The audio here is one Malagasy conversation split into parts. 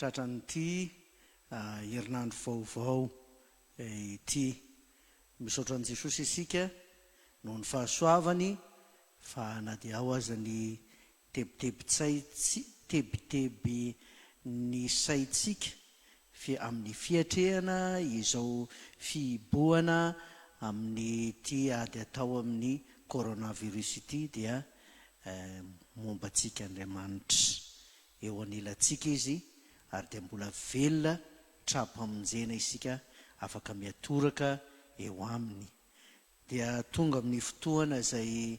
Tratran'ity herinandro vaovao ity. Misaotra an'i Jesosy isika noho ny fahasoavany fa na dia ao aza ny tebitebin'ny saintsika fy amin'ny fiatrehana izao fihibohana amin'ity ady atao amin'ny coronavirus ity dia momba antsika Andriamanitra Eo anilantsika Izy, ary dia mbola velona tra-pamonjena isika afaka miatoraka eo Aminy. Dia tonga amin'ny fotoana izay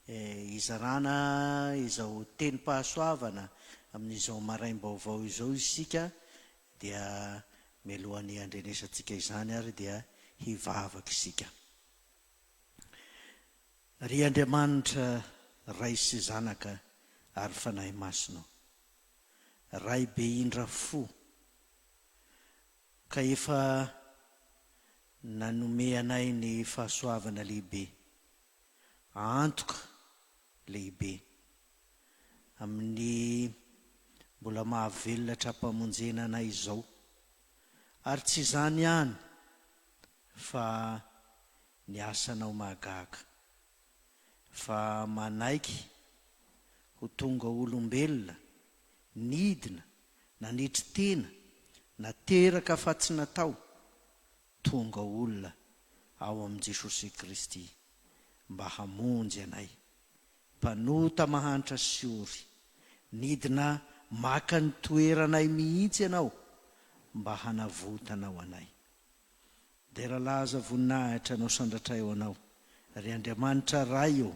hizarana izao tenim-pahasoavana amin'izao maraim-baovao izao isika, dia mialohan'ny handrenesantsika izany ary dia hivavaka isika. Ry Andriamanitra Ray sy Zanaka ary Fanahy Masina ô, Ray be indra fo, ka efa nanome anay ny fahasoavana lehibe, antoka lehibe, amin'ny mbola mahavelona hatrampamonjena anay izao, ary tsy izany ihany fa Ny asanao mahagaga. Fa manaiky ho tonga olombelona, nidina, nanetry tena, nateraka fa tsy natao, tonga olona ao amin'i Jesosy Kristy mba hamonjy anay mpanota mahantra sy ory. Nidina maka ny toeranay mihitsy Ianao mba hanavotanao anay. Dera laza voninahitra anao Sandratra eo anao ry Andriamanitra Ray ô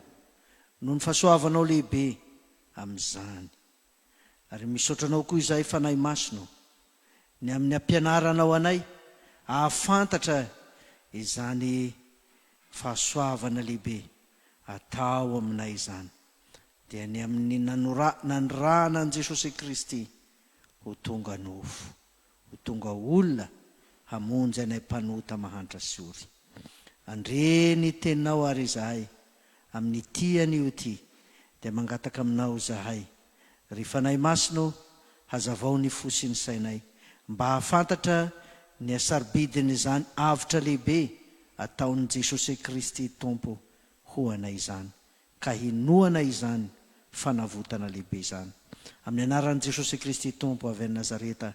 Noho ny fahasoavanao lehibe amin'izany Ary misaotra anao koa izahay Fanahy Masina ô Ny amin'ny hampianaranao anay hahafantatra izany fahasoavana lehibe atao aminay izany Dia ny amin'ny nanora nanirahana an'i Jesosy Kristy ho tonga nofo Ho tonga olona hamonjy anay mpanota mahantra sy ory. Andre ny teninao ary izahay, amin'ity anio ity, dia mangataka aminao izahay, ry Fanahy Masina ô, hazavao ny fo sy ny sainay, mba hahafantatra ny hasarobidin'izany avotra lehibe ataon'i Jesosy Kristy Tompo ho anay izany. ka hinoana izany fanavotana lehibe izany. Amin'ny anaran'i Jesosy Kristy Tompo avy any Nazareta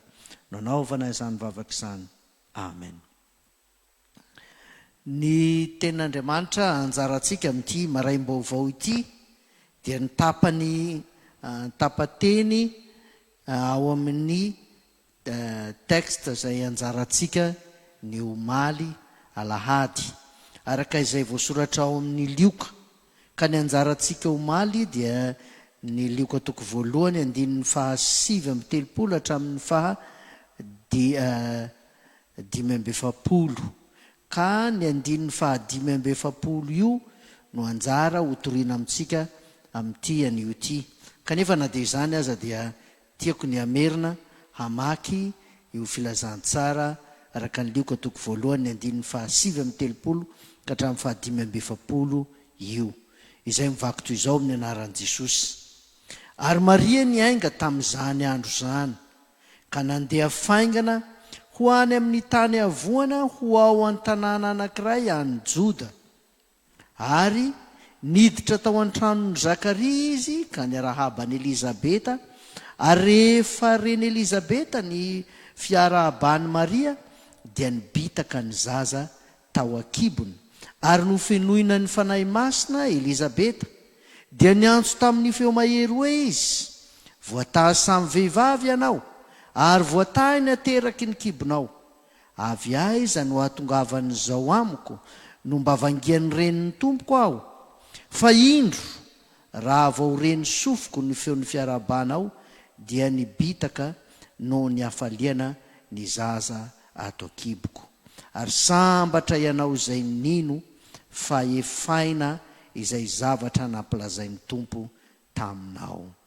no anaovana izany vavaka izany. Amen. Ny Tenin'Andriamanitra anjarantsika amin'ity maraim-baovao ity dia ny tapany an-tapateny ao amin'ny Texte izay ianjarantsika ny omaly alahady, araka izay voasoratra ao amin' ny Lioka, ka ny anjarantsika omaly dia ny Lioka toko voalohany andininy faha sivy amby telopolo hatramin' ny faha di a dimy amby efapolo, ka ny andininy faha dimy amby efapolo io no anjara hotorina amintsika amin' ity anio ity, kanefa na dia izany aza dia Tiako ny hamerina hamaky io Filazantsara araka ny Lioka toko voalohany ny andininy fahasivy amby telopolo ka hatramin'ny fahadimy amby efapolo io, izay mivaky toy izao amin'ny anaran'i Jesosy. Ary Maria niainga tamin'izany andro izany, ka nandeha faingana ho any amin'ny tany havoana ho ao an-tanàna anankiray any Joda. Ary niditra tao an-tranon'i Zakaria izy ka niarahaba an'i Elizabeta, ary rehefa ren'i Elizabeta ny fiarahaban'i Maria, dia nibitaka ny zaza tao an-kibony. Ary nofenoina ny Fanahy Masina Elizabeta, dia niantso tamin'ny feo mahery hoe izy, Voatahy samy vehivavy ianao, ary voatahy ny ateraky ny kibonao. Avy aiza no ahatongavan'izao amiko no mba vangian'ny renin'ny tompoko aho? Fa indro, raha vao re ny sofiko ny feon'ny fiarahabana ao, dia nibitaka noho ny hafaliana ny zaza ato an-kiboko. Ary sambatra ianao izay nino fa efaina izay zavatra nampilazain'ny Tompo taminao.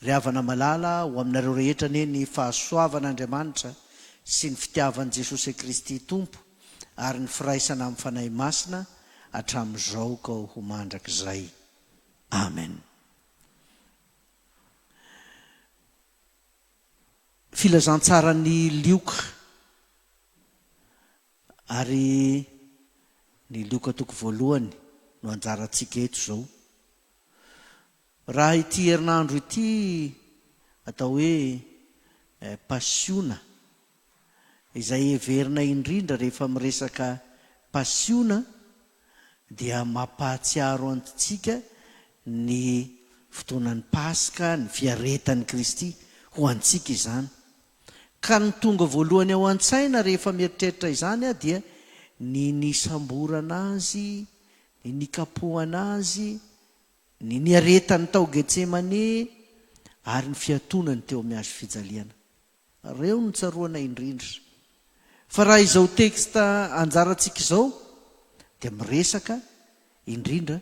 Ry havana malala, ho aminareo rehetra anie ny fahasoavan' Andriamanitra sy ny fitiavan'i Jesosy Kristy Tompo ary ny firaisana amin'ny Fanahy Masina hatramin'izao ka ho mandrakizay. Amen. Filazantsaran'i Lioka. Ary ny Loka toko voalohany no anjarantsika eto izao. Raha ity herinandro ity atao hoe Pasiona, izay heverina indrindra rehefa miresaka pasiona dia mampahatsiaro antsika ny fotoanan'ny Paska, ny fiaretan'i Kristy ho antsika izany. Ka ny tonga voalohany ao an-tsaina rehefa mieritreritra izany aho dia ny nisamborana Azy, ny nikapohana Azy, ny niaretany tao Getsemane, ary ny fiatonany teo amin'ny hazo fijaliana. Ireo no tsaroana indrindra. Fa raha izao texte anjarantsika izao dia miresaka indrindra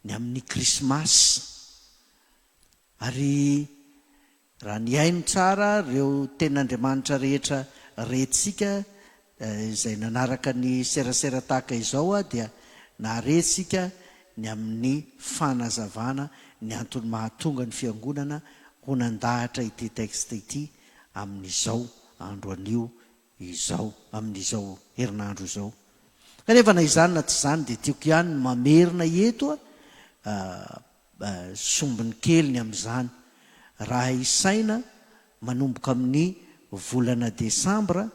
ny amin'ny Krismasy. Ary Raha nihaino tsara ireo tenin'Andriamanitra rehetra rentsika izay nanaraka ny serasera tahaka izao aho dia nahare isika ny amin'ny fanazavana ny antony mahatonga ny Fiangonana ho nandahatra ity texte ity amin'izao andro anio izao, amin'izao herinandro izao. Kanefa na izany na tsy izany dia tiako ihany ny mamerina eto a, Mba sombiny kely ny amin'izany. Raha isaina, manomboka amin'ny volana desambra,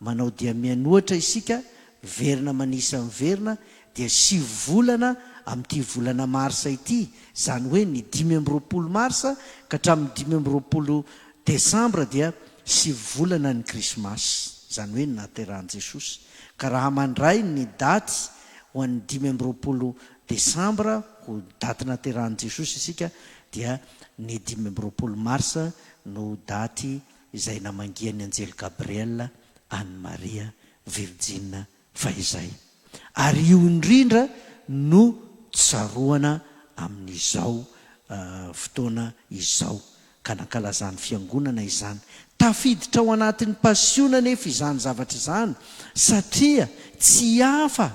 manao dia mianiohatra isika, miverina manisa miverina, dia sivy volana amin'ity volana marsa ity, izany hoe ny dimy amby roapolo marsa ka hatramin'ny dimy amby roapolo desambra dia sivy volana ny Krismasy, izany hoe ny nahaterahan'i Jesosy. Ka raha mandray ny daty ho an'ny dimy amby roapolo Desambra ho daty naterahan'i Jesosy isika dia ny dimy amby roapolo marsa no daty izay namangian'ny anjely Gabriel an'i Maria virjina fahizay. Ary io indrindra no tsaroana amin'izao fotoana izao ka nankalazan'ny Fiangonana izany. Tafiditra ao anatin'ny Pasiona anefa izany zavatra izany, satria tsy hafa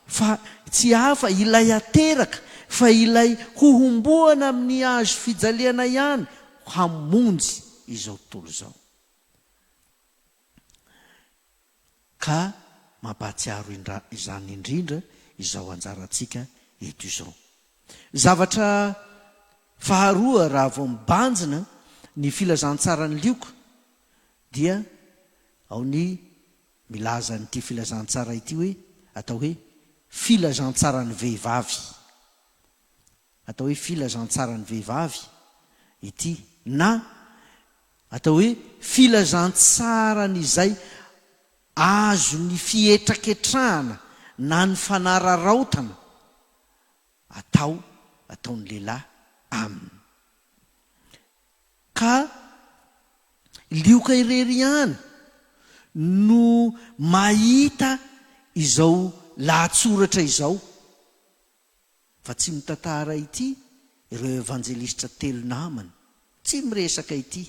fa tsy hafa ilay ateraka fa ilay hohomboana amin'ny Hazo fijaliana ihany hamonjy izao tontolo izao. Ka mampahatsiaro indra izany indrindra izao anjarantsika eto izao. Zavatra faharoa raha vao mibanjina ny filazantsaran'i Lioka dia ao ny milaza an'ity filazantsara ity hoe atao hoe filazantsaran'ny vehivavy. Atao hoe filazantsaran'ny vehivavy ity na Atao hoe filazantsaran' izay azo ny fihetraketrahana na ny fanararaotana atao ataon'ny lehilahy aminy. Ka lioka irery ihany no mahita izao lahatsoratra izao. Fa tsy mitantara ity ireo evanjelistra telo namany, tsy miresaka ity.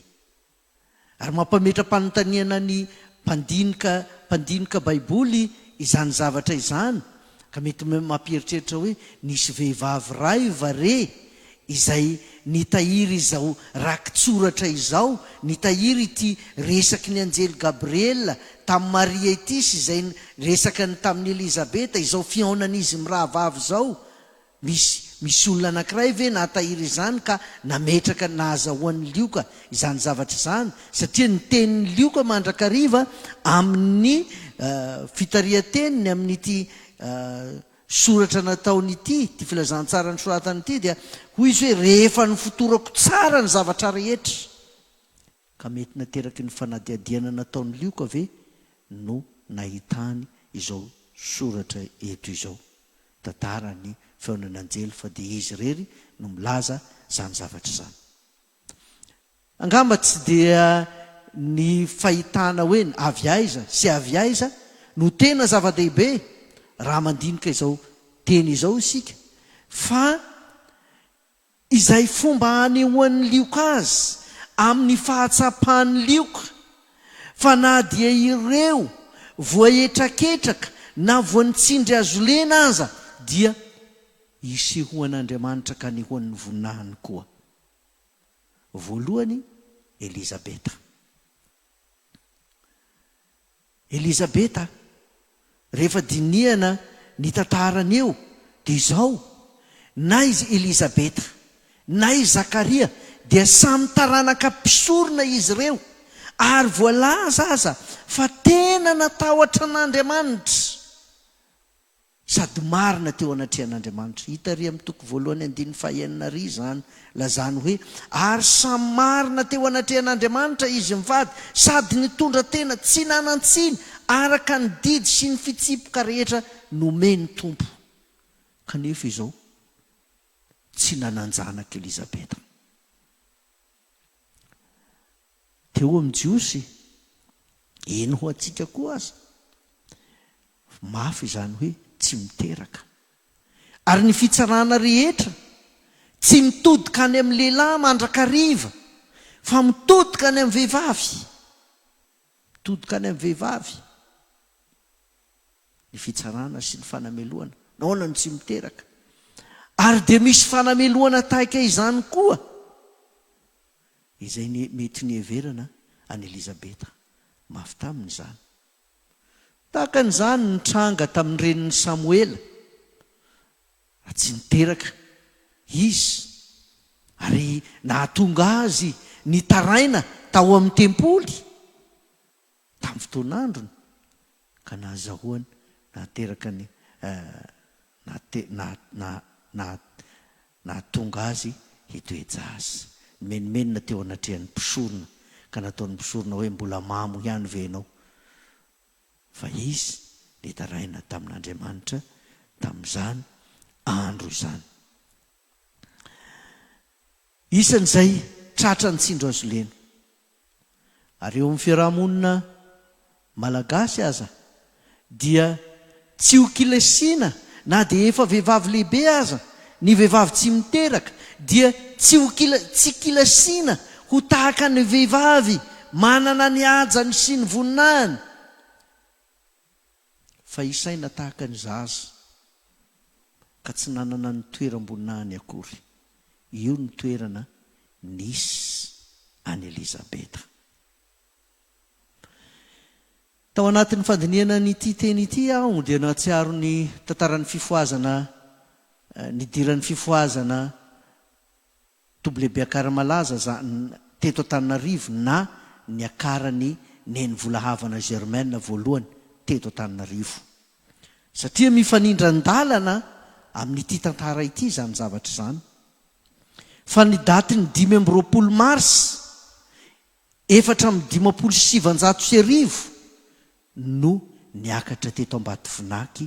Ary mampametra-panontaniana ny mpandinika mpandinika Baiboly izany zavatra izany, ka mety mampieritreritra hoe nisy vehivavy raiva re izay Nitahiry izao rakitsoratra izao, nitahiry ity resaky ny anjely Gabriela tamin'i Maria ity sy izay resaka ny tamin'i Elizabeta, izao fihaonan'izy mirahavavy izao. Misy, misy olona anankiray ve nahatahiry izany ka nametraka nahazahoan'i Lioka izany zavatra izany? Satria ny tenin'i Lioka mandrakariva amin'ny fitarihan-teniny amin'ity. Soratra nataony ity, ity filazantsara nosoratany ity dia hoy izy hoe, rehefa nofotorako tsara ny zavatra rehetra, ka mety nateraky ny fanadihadiana nataon'i Lioka ve no nahitany izao soratra eto izao. Tantara ny feonan'ny anjely fa dia izy irery no milaza izany zavatra izany. Angamba tsy dia ny fahitana hoe avy aiza sy avy aiza no tena zava-dehibe raha mandinika izao teny izao isika fa izay fomba anehoan'ny lioka azy amin'ny fahatsapan'ny lioka fa na dia ireo voahetraketraka na voan'ny tsindry hazolena aza dia isehoan'Andriamanitra ka anehoan'ny voninahiny koa. voalohany Elizabeta. Elizabeta, rehefa dinihana ny tantarany eo dia izao, na izy Elizabeta na i Zakaria dia samy taranaka mpisorona izy ireo, ary voalaza aza fa tena natahotra an'Andriamanitra. Sady marina teo anatrehan'Andriamanitra. Hita àry amin'ny toko voalohany andininy fahaenina àry izany, lazany hoe, Ary samy marina teo anatrehan'Andriamanitra izy mivady, sady nitondra tena tsy nanan-tsiny araka ny didy sy ny fitsipoka rehetra nomen'ny Tompo. Kanefa izao tsy nanan-janaka Elizabeta. Dia ho amin'ny Jiosy, eny ho antsika koa aza, mafy izany hoe tsy miteraka. Ary ny fitsarana rehetra tsy mitodika any amin'ny lehilahy mandrakariva, fa mitodika any amin'ny vehivavy. Todikany amin'ny vehivavy ny fitsarana sy ny fanamelohana. Nahoana no tsy miteraka? Ary dia misy fanamelohana tahaka izany koa izay mety niheverana an'i Elizabeta. Mafy taminy izany. Tahaka an'izany nitranga tamin'ny renin'i Samoela. Na tsy niteraka Izy, ary nahatonga Azy nitaraina tao amin'ny tempoly tamin'ny fotoan'androny, ka nahazahoany nahateraka ny, nahate, naha, naha, naha, nahatonga Azy hitoe-jaza. Nimenomenona teo anatrehan'ny mpisorona, ka nataon'ny mpisorona hoe, Mbola mamo ihany ve ianao? fa izy nitaraina tamin'Andriamanitra tamin'izany andro izany. Isan'izay tratra ny tsindro azo lena. Ary eo amin'ny fiaraha-monina malagasy aza dia Tsy ho kilesina na dia efa vehivavy lehibe aza, ny vehivavy tsy miteraka dia tsy ho kila, tsy kilesina ho tahaka ny vehivavy manana ny hajany sy ny voninahiny, fa hisaina tahaka ny zaza ka tsy nanana ny toeram-boninahiny akory. Io ny toerana nisy an'i Elizabeta. Tao anatin'ny fandinihana an'ity teny ity aho dia nahatsiaro ny tantaran'ny fifohazana nidiran'ny fifohazana WBAKAR malaza za teto Antananarivo na niakaran'i Neny Volahavana Germaine voalohany teto Antananarivo. Satria mifanindran-dalana amin'ity tantara ity izany zavatra izany. Fa ny datin'ny dimy amby roapolo mars Efatra amby dimampolo sy sivanjato sy arivo no niakatra teto Ambatovinaky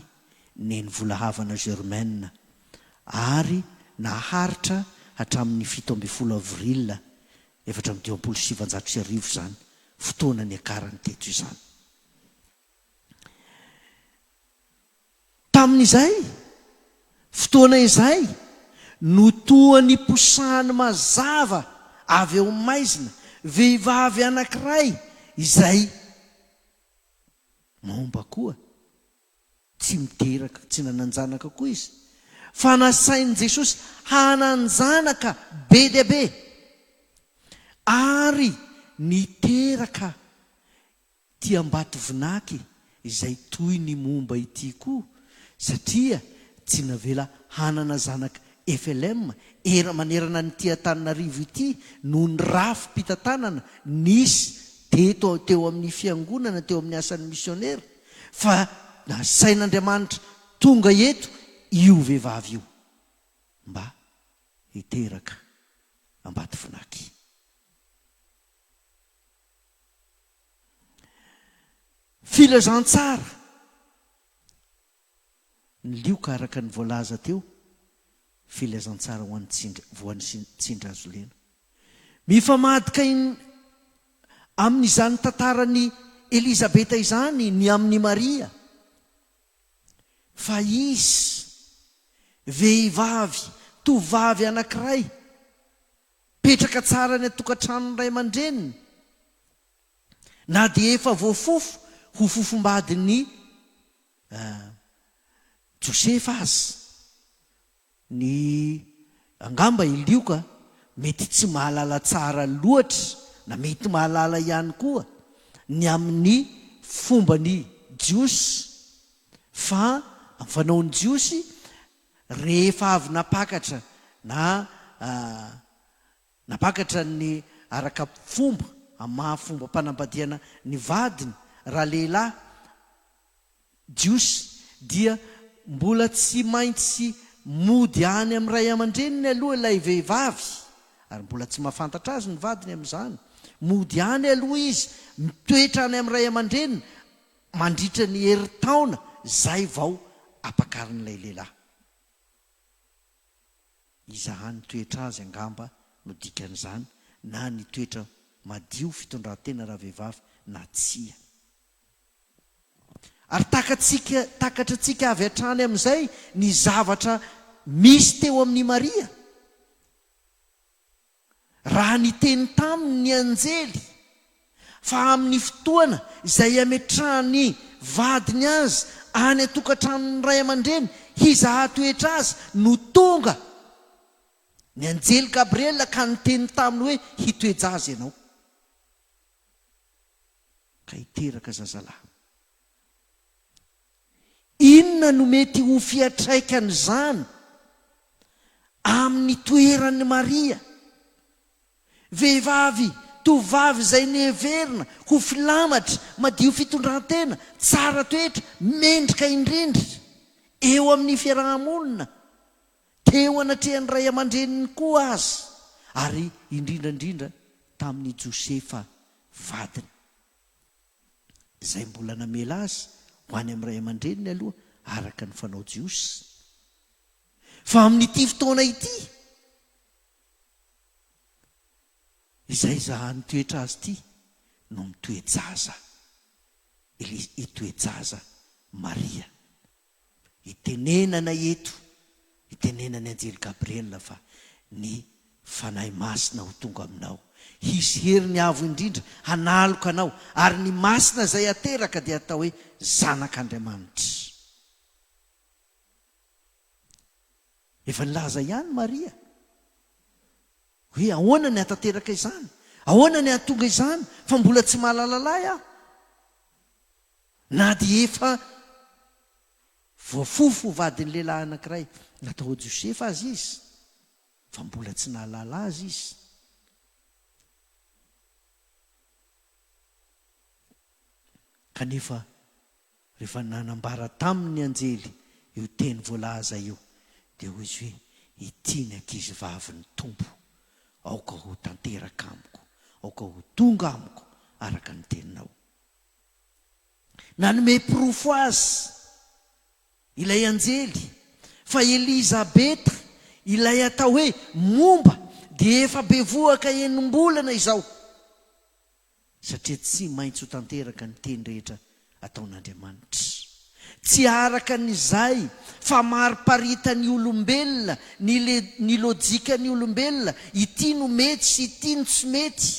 neny Volahavana Germaine ary naharitra hatramin'ny fito ambin'ny folo avril efatra amby dimampolo sy sivanjato sy arivo izany fotoana niakarany teto izany. Tamin'izay fotoana izay no toa niposahany mazava avy ao maizina vehivavy anankiray izay momba koa. Tsy niteraka, tsy nanan-janaka koa izy, fa nasain'i Jesosy hanan-janaka be dia be, ary niteraka Ity Ambatovinaky izay toy ny momba ity koa satria tsy navela hanana zanaka FLM era manerana an'ity Antananarivo ity noho ny rafi-pitantanana nisy teto teo amin'ny fiangonana teo amin'ny asan'ny misionera fa nasain'Andriamanitra tonga eto io vehivavy io mba hiteraka Ambatovinaky. Filazantsara, Ny lioka araka ny voalaza teo, filazantsara ho an'ny tsindry, voan'ny tsindry azo lena. Mifamadika amin'izany tantaran'i Elizabeta izany ny amin'i Maria, fa izy, vehivavy, tovovavy anankiray, Mipetraka tsara any an-tokantranon'ny ray aman-dreniny na dia efa voafofo ho fofombadin'i Josefa aza. Ny angamba i Lioka mety tsy mahalala tsara loatra na mety mahalala ihany koa ny amin'ny fomban'ny Jiosy, fa amin'ny fanaon'ny Jiosy Rehefa avy nampakatra na nampakatra ny araka fomba amin'ny maha fombam-panambadiana ny vadiny raha lehilahy jiosy dia mbola tsy maintsy mody any amin'ny ray aman-dreniny aloha ilay vehivavy ary mbola tsy mahafantatra azy ny vadiny amin'izany. Mody any aloha izy, mitoetra any amin'ny ray aman-dreniny Mandritra ny herintaona izay vao apakarin'ilay lehilahy. Iza hany toetra azy angamba no dikan'izany na ny toetra madio fitondrantena ravehivavy na tsia. Ary takatsika takatra antsika avy hatrany amin'izay ny zavatra misy teo amin'i Maria. Raha niteny taminy ny anjely fa amin'ny fotoana izay hametrahan'ny vadiny azy any an-tokantranon'ny ray aman-dreny hizaha toetra azy no tonga ny anjely Gabriela ka niteny taminy hoe, Hitoe-jaza ianao ka hiteraka zazalahy. Inona no mety ho fiantraikan'izany amin'ny toeran'i Maria, vehivavy tovovavy izay noheverina ho filamatra, madio fitondran-tena, tsara toetra, mendrika indrindra eo amin'ny fiaraha-monina, teo anatrehan'ny ray aman-dreniny koa aza, ary indrindra indrindra tamin'i Josefa vadiny? izay mbola namela azy ho any amin'ny ray aman-dreniny aloha araka ny fanao jiosy. Fa amin'ity fotoana ity izay zahan'ny toetra azy ity no mitoe-jaza, ilay hitoe-jaza Maria. Itenenana eto, itenenan'ny anjely Gabriela fa ny Fanahy Masina ho tonga aminao. Hisy heriny avo indrindra hanaloka anao, ary ny masina izay ateraka dia hatao hoe zanak'Andriamanitra. Efa nilaza ihany Maria hoe ahoana ny hahatanteraka izany? Ahoana ny hahatonga izany fa mbola tsy mahalala lahy aho? Na dia efa voafofo ho vadin'ny lehilahy anankiray natao ho Josefa aza izy, fa mbola tsy nahalala azy izy. Kanefa, rehefa nanambara taminy ny anjely io teny voalaza io, dia hoy izy hoe, Ity ny ankizivavin'ny Tompo, aoka ho tanteraka amiko, aoka ho tonga amiko araka ny teninao. Nanome porofo azy ilay anjely fa Elizabeta, ilay atao hoe momba, dia efa bevohoka enim-bolana izao, satria tsy maintsy ho tanteraka ny teny rehetra ataon'Andriamanitra. Tsy araka ny izay famariparitan'ny olombelona, ny lojikan'ny olombelona, ity no mety sy ity no tsy mety.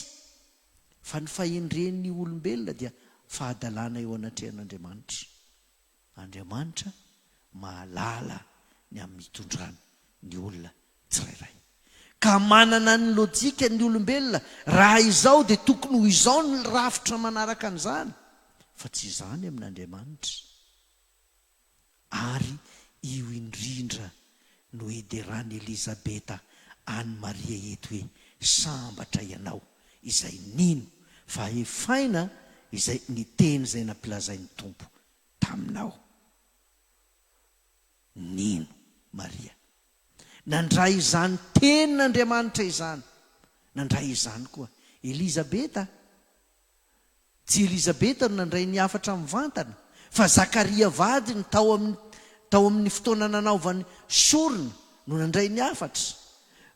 fa ny fahendren'ny olombelona dia fahadalana eo anatrehan'Andriamanitra. Andriamanitra mahalala ny amin'ny itondrany ny olona tsirairay. Ka manana ny lojika ny olombelona, raha izao dia tokony ho izao ny rafitra manaraka an'izany, fa tsy izany amin'Andriamanitra. ary io indrindra no hideran'i Elizabeta an'i Maria eto hoe, Sambatra ianao izay nino fa hefaina izay ny teny izay nampilazain'ny Tompo taminao. Nino Maria. Nandray izany tenin'Andriamanitra izany. Nandray izany koa Elizabeta. Tsy Elizabeta no nandray ny hafatra mivantana, fa Zakaria vadiny tao amin'ny tao amin'ny fotoana nanaovany sorona no nandray ny hafatra.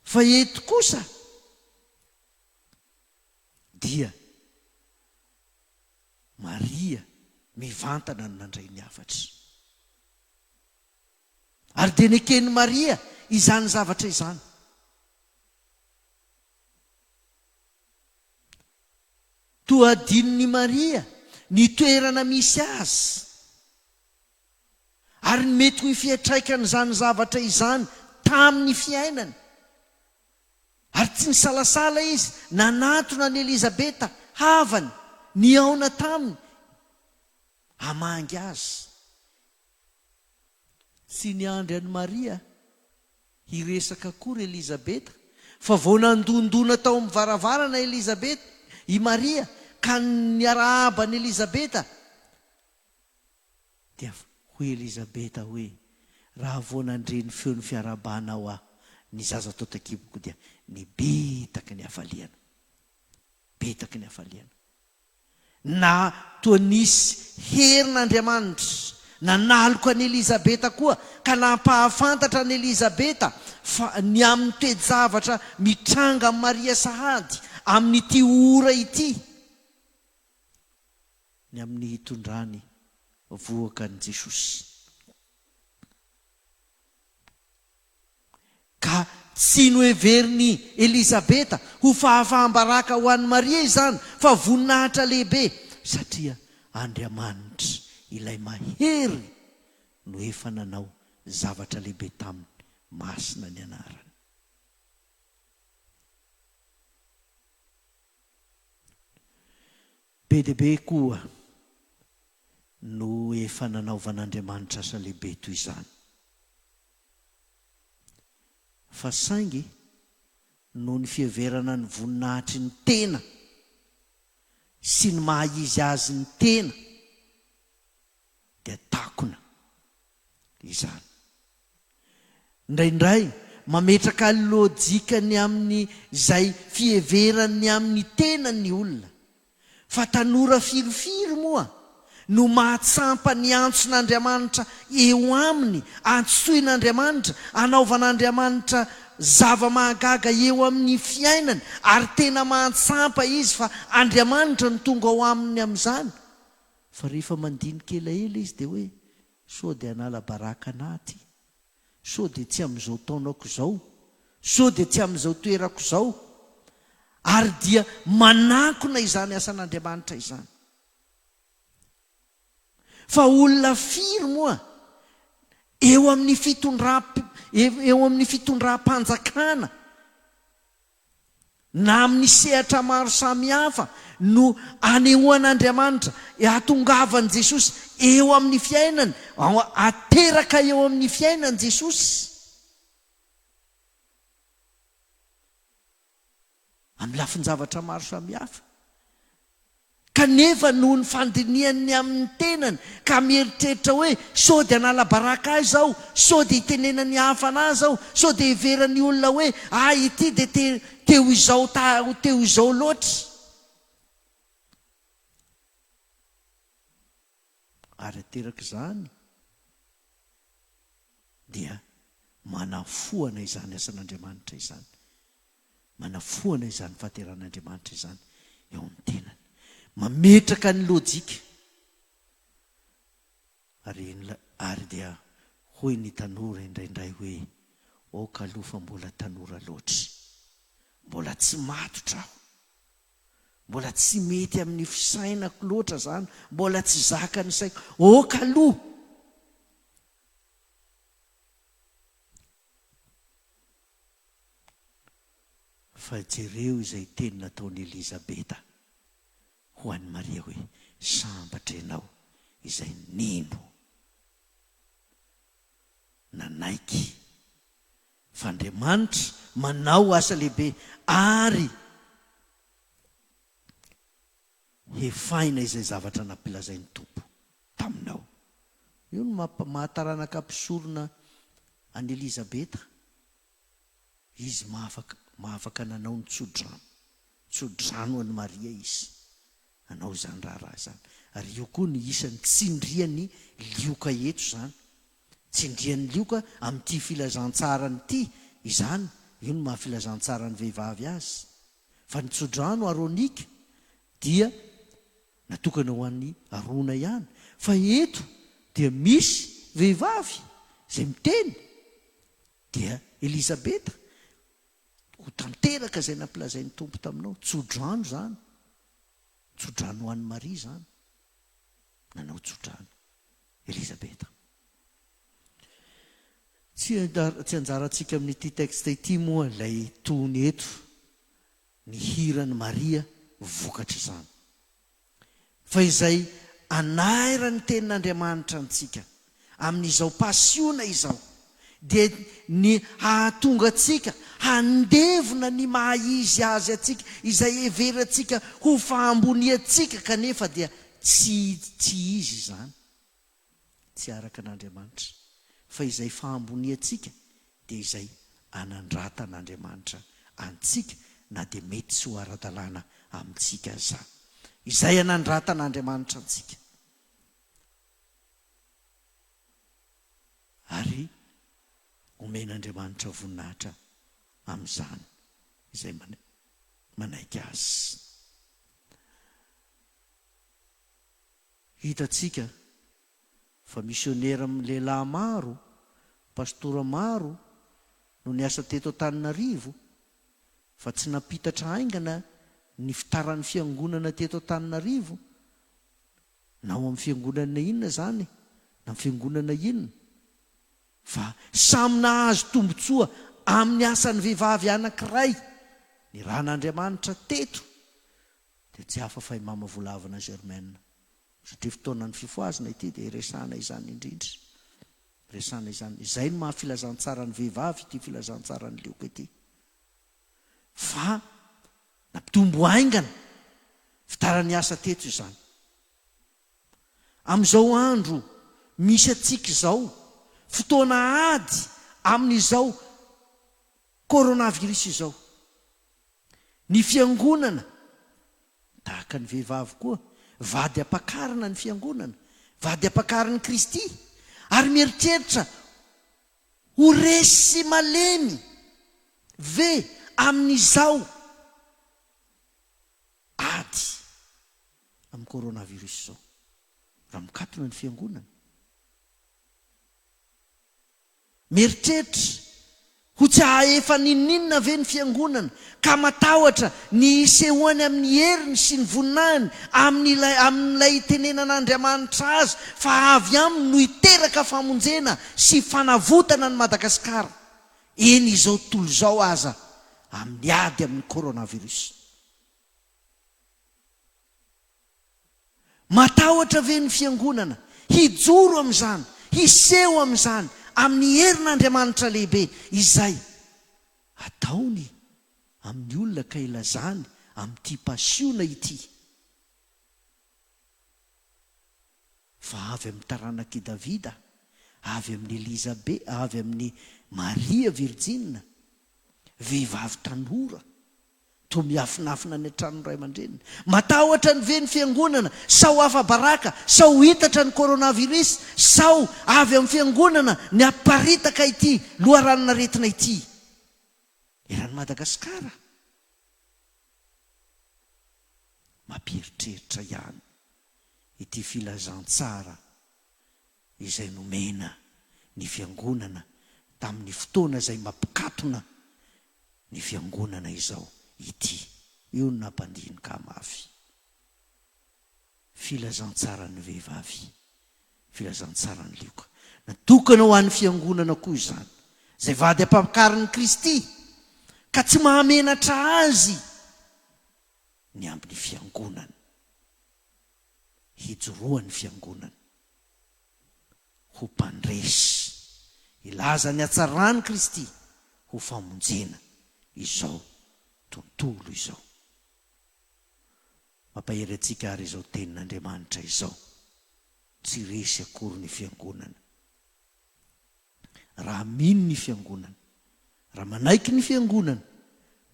Fa eto kosa dia Maria mivantana no nandray ny hafatra. Ary dia neken'i Maria izany zavatra izany. Toa hadinon'i Maria ny toerana misy azy, ary ny mety ho fiantraikan'izany zavatra izany tamin'ny fiainany. Ary tsy nisalasala izy nanatona an'i Elizabeta havany nihaona taminy hamangy azy. Tsy niandry an'i Maria hiresaka akory Elizabeta fa vao nandondona tao amin'ny varavarana Elizabeta, i Maria, ka niarahaba an'i Elizabeta, dia hoy Elizabeta hoe, Raha vao nandre ny feon'ny fiarahabanao aho, ny zaza tao an-takiboko dia nibetaky ny hafaliana. Betaky ny hafaliana. Na toa nisy herin'Andriamanitra nanaloka an'i Elizabeta koa ka nampahafantatra an'i Elizabeta fa ny amin'ny toe-javatra mitranga amin'i Maria sahady amin'ity ora ity, ny amin'ny hitondrany vohoka an'i Jesosy. Ka tsy noheverin'i Elizabeta ho fahafaham-baraka ho an'i Maria izany, fa voninahitra lehibe, satria Andriamanitra Ilay Mahery no efa nanao zavatra lehibe taminy, masina ny anarany. Be dia be koa no efa nanaovan'Andriamanitra asa lehibe toy izany. Fa saingy, noho ny fiheverana ny voninahitry ny tena sy ny maha-izy azy ny tena, dia takona izany. Indraindray, mametraka lojika ny amin' izay fiheverany ny amin' ny tenany ny olona. Fa tanora firifiry moa no mahatsampa ny antson'Andriamanitra eo aminy, antsoin'Andriamanitra, anaovan'Andriamanitra zava-mahagaga eo amin'ny fiainany, ary tena mahatsampa izy fa Andriamanitra no tonga ao aminy amin'izany? Fa rehefa mandinika elaela izy dia hoe, Sao dia hanala baraka an'aty? Sao dia tsy amin'izao taonako izao? Sao dia tsy amin'izao toerako izao? Ary dia manankona izany asan'Andriamanitra izany. Fa olona firy moa eo amin'ny fitondram-panjakana? na amin'ny sehatra maro samihafa no anehoan'Andriamanitra hatongavan'i Jesosy eo amin'ny fiainany, ateraka eo amin'ny fiainany Jesosy. Amin'ny lafin-javatra maro samihafa. Kanefa noho ny fandinihany ny amin'ny tenany ka mieritreritra hoe, Sao dia hanala baraka ahy izao? Sao dia hitenenan'ny hafa an'azy aho? Sao dia heveran'ny olona hoe ahy ity dia te te ho izao ta ho te ho izao loatra? Ary aterak' izany dia manafoana izany asan' Andriamanitra izany, manafoana izany fahateran' Andriamanitra izany eo amin' ny tenany, mametraka ny lôjika. Ary inona? Ary dia hoy ny tanora indraindray hoe, Aoka aloha fa mbola tanora loatra, mbola tsy matotra aho. Mbola tsy mety amin'ny fisainako loatra izany, mbola tsy zakan'ny saiko. Ok aloha! Fa jereo izay teny nataon'i Elizabeta ho an'i Maria hoe, Sambatra ianao izay nino, nanaiky. Fa Andriamanitra manao asa lehibe ary hefahina izay zavatra nampilazain'ny Tompo taminao. Io no maha-taranaka mpisorona an'i Elizabeta. Izy maha-afaka, maha-afaka nanao ny tsodrano, tsodrano ho an'i Maria Izy, nanao izany raharaha izany. Ary io koa no isan'ny tsindrian'ny lioka eto izany, Tsindrian'i Lioka amin'ity filazantsarany ity izany, io no maha filazantsaran'ny vehivavy azy, fa ny tsodrano aronika dia natokana ho an'i Arona ihany, fa eto dia misy vehivavy izay miteny, dia Elisabeta, ho tanteraka izay nampilazain'ny Tompo taminao, tsodrano izany, tsodrano ho an'i Maria izany, nanao tsodrano. Elisabeta. Tsy tsy anjarantsika amin'ity texte ity moa ilay tony eto, ny hiran'i Maria vokatr'izany. Fa izay anairan'ny tenin'Andriamanitra antsika amin'izao pasiona izao, dia ny hahatonga antsika handevona ny maha izy azy antsika, izay heverantsika ho fahamboniantsika kanefa dia tsy tsy izy izany, tsy araka an'Andriamanitra, fa izay fahamboniantsika dia izay anandratan'Andriamanitra antsika na dia mety tsy ho ara-dalàna amintsika aza. Izay anandratan'Andriamanitra antsika. Ary omen'Andriamanitra voninahitra amin'izany izay manaiky Azy. Hitantsika fa misionera lehilahy maro, pastora maro no niasa teto Antananarivo, fa tsy nampitatra haingana ny fitaran'ny Fiangonana teto Antananarivo, Na ao amin'ny fiangonana inona izany na amin'ny fiangonana inona fa samy nahazo tombontsoa amin'ny asan'ny vehivavy anankiray ny ran'Andriamanitra teto dia tsy hafa fa i Mama Volavina Germaine satria fotoanan'ny fifohazana ity dia iresahana izany indrindra iresahana izany izay no maha filazantsaran'ny vehivavy ity filazantsaran'ny lioko ity fa nampitombo haingana fidaran'ny asa teto izany. Amin'izao andro misy antsika izao, fotoana ady amin'izao coronavirus izao, ny Fiangonana, tahaka ny vehivavy koa, vady ampakarina ny Fiangonana, vady ampakarin'i Kristy, ary mieritreritra Ho resy malemy ve amin'izao ady amin'ny coronavirus izao raha mikatona ny fiangonana? Mieritreritra ho tsy hahaefa n'inon'inona ve ny fiangonana? ka matahotra ny hisehoany amin'ny heriny sy ny voninahiny, amin'ilay amin'ilay itenenan'Andriamanitra azy fa avy aminy no hiteraka famonjena sy fanavotana an'i Madagasikara, eny izao tontolo izao aza, amin'ny ady amin'ny coronavirus. Matahotra ve ny Fiangonana hijoro amin'izany, hiseho amin'izany, amin'ny herin'Andriamanitra lehibe izay ataony amin'ny olona ka ilazany amin'ity pasiona ity fa avy amin'ny taranak'i Davida, avy amin'i Elizabe, avy amin'i Maria Virjina, vehivavy tanora, Toa miafinafina any an-tranon'ny ray aman-dreniny. Matahotra ny ve ny fiangonana? Sao afa-baraka? Sao ho itatra ny coronavirus? Sao avy amin'ny fiangonana ny haparitaka ity loharanon'aretina ity eran'i Madagasikara? Mampieritreritra ihany ity filazantsara izay nomena ny Fiangonana tamin'ny fotoana izay mampikatona ny Fiangonana izao ity. Io no nampandinika mafy Filazantsaran'ny vehivavy, Filazantsaran'i Lioka. Natokana ho an'ny Fiangonana koa izany, izay vady ampakariny Kristy, ka tsy mahamenatra azy ny amin'ny Fiangonany. hijoroan'ny Fiangonana ho mpandresy hilaza ny hatsaran'i Kristy ho famonjena izao tontolo izao. Mampahery antsika àry izao tenin'Andriamanitra izao, Tsy resy akory ny Fiangonana. Raha mino ny Fiangonana, raha manaiky ny Fiangonana,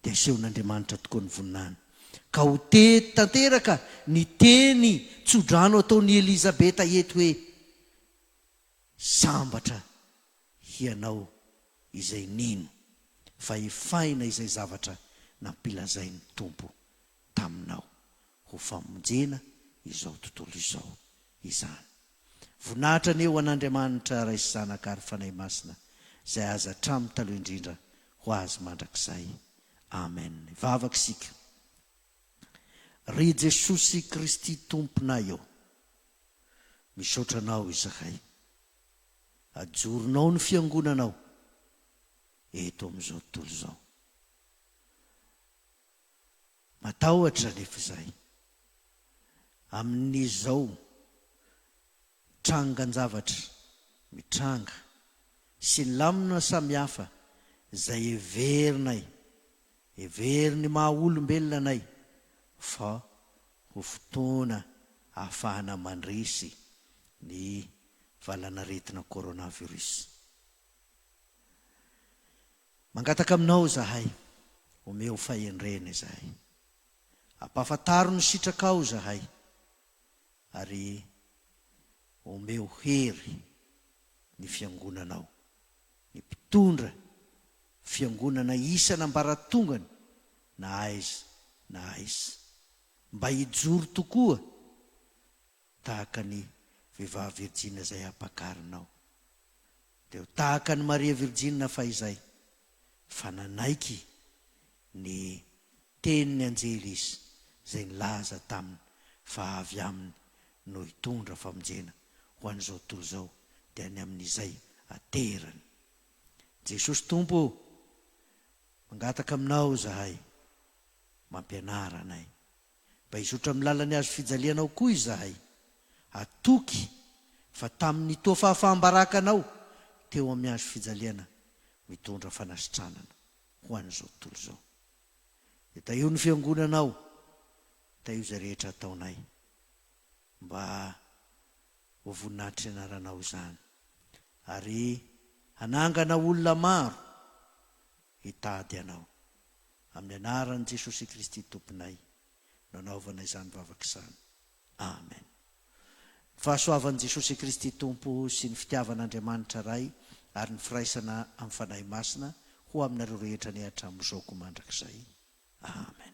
dia asehon'Andriamanitra tokoa ny voninahiny. Ka ho teto tanteraka ny teny tso-drano ataon'i Elizabeta eto hoe, Sambatra hianao izay nino, fa efaina izay zavatra nampilazain'ny Tompo taminao. ho famonjena izao tontolo izao izany. Voninahitra anie ho an'Andriamanitra Ray sy Zanaka ary Fanahy Masina izay azy hatramin'ny taloha indrindra ho azy mandrakizay. Amen. Hivavaka isika. Ry Jesosy Kristy Tomponay ô! Misaotra Anao izahay. Ajoronao ny Fiangonanao eto amin'izao tontolo izao. Matahotra anefa izahay amin'izao trangan-javatra mitranga sy ny lamina samihafa izay heverinay, heverin'ny maha olombelona anay fa ho fotoana ahafahana mandresy ny valanaretina coronavirus. Mangataka aminao izahay, omeo fahendrena izahay. Ampahafantaro ny sitrakao izahay, ary omeo hery ny Fiangonanao, ny mpitondra Fiangonana isan'ambaratongany na aiza na aiza, mba hijoro tokoa, Tahaka ny vehivavy virjina izay ampakarinao, dia ho tahaka an'i Maria virjina fahizay, fa nanaiky ny tenin'ny anjely izy izay nilaza taminy fa avy aminy no hitondra famonjena ho an'izao tontolo izao, dia ny amin'izay aterany. Jesosy Tompo ô, mangataka aminao izahay, mampianara anay. Mba hizotra amin'ny lalan'ny hazo fijalianao koa izahay. Atoky fa tamin'ny toa fahafaham-baraka anao teo amin'ny hazo fijaliana mitondra fanasitranana ho an'izao tontolo izao. Dia tahio ny Fiangonanao, tahio izay rehetra ataonay mba ho voninahitry ny Anaranao izany ary hanangana olona maro hitady Anao. Amin'ny anaran'i Jesosy Kristy Tomponay no anaovana izany vavaka izany. Amen. Ny fahasoavan'i Jesosy Kristy Tompo sy ny fitiavan'Andriamanitra Ray ary ny firaisana amin'ny Fanahy Masina ho aminareo rehetra anie hatramin'izao koa mandrakizay. Amen.